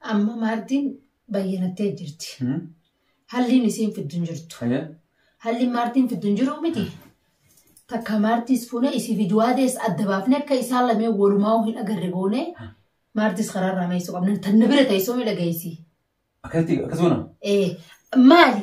Amma maartiin bayyanattee jirti. Halliin isiin fiddu hin jirtu. Halliin maartiin fiddu hin jiru miti. Takka maartiis fuune isii fi duwaadees adda baafne akka isaan lamee walumaa hin agarre goone maartiis karaarraa meessu qabna. Tanna bira teessoo miidhageessi. Akkasuma. Ee maali?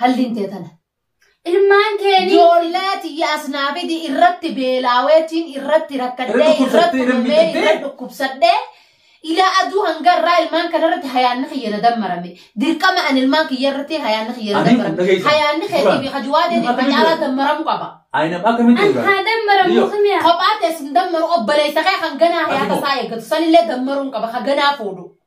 halliin tee tana. Ilmaan keeni. Ijoollee tiyya as naa fidi irratti beelaaweetiin irratti rakkadhee irratti dhumee irra dhukkubsadhee ilaa aduu hanga irraa ilmaan kana irratti hayaanni kiyya na dammarame dirqama an ilmaan kiyya irratti hayaanni kiyya na dammarame hayaanni keetii fi hajuwaadeen irra caalaa dammaramu qaba. Ayinam akkamitti An haa dammaramu Yoo. kamiya. Kophaa teessin dammaru obboleessa kee kan ganaa hayaata isaa eeggatu sanillee dammaruun qaba kan ganaa fuudhu.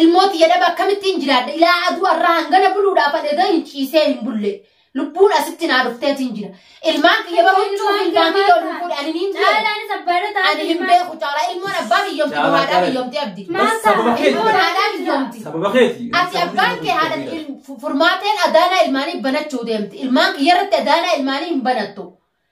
Ilmoo tiyya dhaba akkamittiin jiraadha ilaa aduu arraa hangana buluudhaaf adhegaa hin ciisee hin bulle. Lubbuun asitti naa dhufteetiin jira. Ilmaan kiyya bara huccuu fi ilmaan kiyya ol hin fuudhe ani hin beeku. Caalaan sabbaana taate. Ani hin beeku caalaa ilmoon abbaa kiyyomti Caalaa, haadhaa caalaa. kiyyomti abdi. Maal Sababa ta'a? Ilmoon keeti. haadhaa kiyyomti. Sababa keeti. Ati abbaan kee haadha il- fu- furmaateen adaanaa ilmaanii banachuu deemti. Ilmaan kiyya irratti adaanaa ilmaanii hin banattu.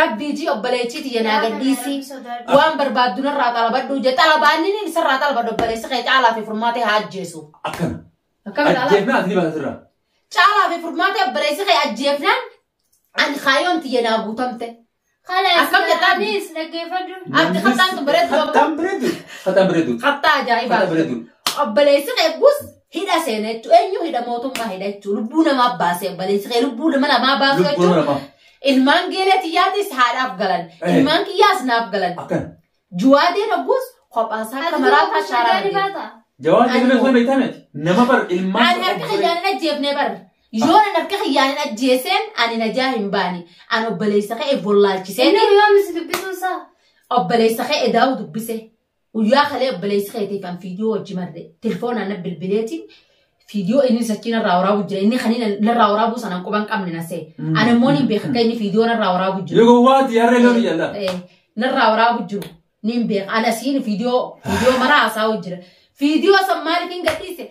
Rabbii jii obboleettii tiyya naa gadhiisii waan barbaaddu narraa xalabadhu je xalabaanni ni isarraa xalabadhu obboleessi kee caalaa fi furmaatee haa ajjeesu. Akkana. Akkana caalaa Ajjeefnaa ati ni baata sirraa. caalaa fi furmaatee obboleessi kee ajjeefnaan ani kaayoon tiyya naa guutamte. Akkam jettaa? Anis dhaggeeffadhu. Abdi kattaan kun bareedu qaba. Kattaan bareedu. Kattaan bareedu. Kattaa ajaa'ibaa. Kattaa bareedu. Obboleessi kee gus Hidha seena jechuun eenyu hidha mootummaa hidha jechuun lubbuu namaa baasee baleessi kee lubbuu nama lamaa baasuu Lubbuu jechuun nama. ilmaan geelee tiyyaatis haadhaaf galan Eh. ilmaan kiyyaas naaf galan Akkan. juwaadee dhagguus kophaasaa Ati kamaraa duuba taashaa shaadaan ramadee. baata. Jawaan Ani deemee hoo. sana beektaa miti. Nama bar ilmaan. Ani harka kiyyaan hin ajjeefnee barre. Yoo nan harka kiyyaan hin ajjeeseen ani najaa hin baane. Ani obboleessa ka'e bollaalchisee Inni yoo misi dubbisuun isaa. obboleessa ka'e daa'u dubbise. Guyyaa kalee obboleessi keetii kan fiidiyoo wajji marre tilfoonaan na bilbileeti fiidiyoo inni sachii narraa waraabuu jira inni kan inni narraa waraabuu sanaan quba hin qabne nasee Mm. ani immoo niin beeka akka inni fiidiyoo narraa waraabuu jiru. Yoo gowwaati harree loon jalla. Eh, Narraa waraabuu jiru niin beeka ana siin fiidiyoo fiidiyoo maraa haasa'uu jira fiidiyoo san maaliif hin gadhiise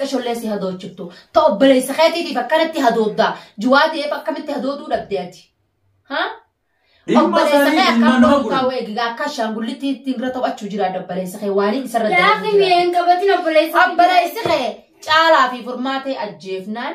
Qashollee si hadoochiftu. Ta obboleessa keetiitiif akkanatti hadooddaa. Juwaa ta'eef akkamitti hadooduu dhabde ati? Ha? Ilma Obboleessa isaanii kee ilmaan akkam nama godhu taa'u godhan. eegigaa akka ashaangullitti ittiin bira taphachuu jira obboleessa kee waaliin isarra Laafi dalagu jira. mi'een qabatin obboleessa. Obboleessi kee caalaa fi furmaatee ajjeefnaan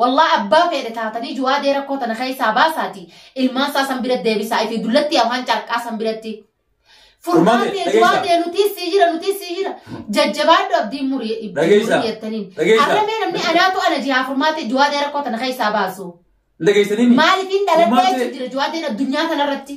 Wallah abbaa feedhe taatanii juwaadee rakkoo tana keessaa baasaati ilmaan isaa san bira deebisaa ifi dullatti afaan carqaa san biratti furmaatee juwaadee nutii sii jira nutii sii jira jajjabaadhu abdiin murii jettaniin arramee namni anaatu ana jihaa furmaatee juwaadee rakkoo tana keessaa baasu maaliif hin dhaladhee jira juwaadeen addunyaa kanarratti.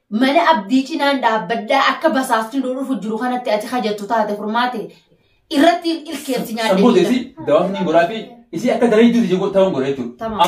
Mana abdii cinaan dhaabbadhaa akka basaasni nu dhufu jiru kanatti ati hajattu taate furmaate irratti ilkeerti nyaadde. Sammuu teeti dawaafni goraa fi isii akka daree jiru ta'uun godha jechuudha. Tamam.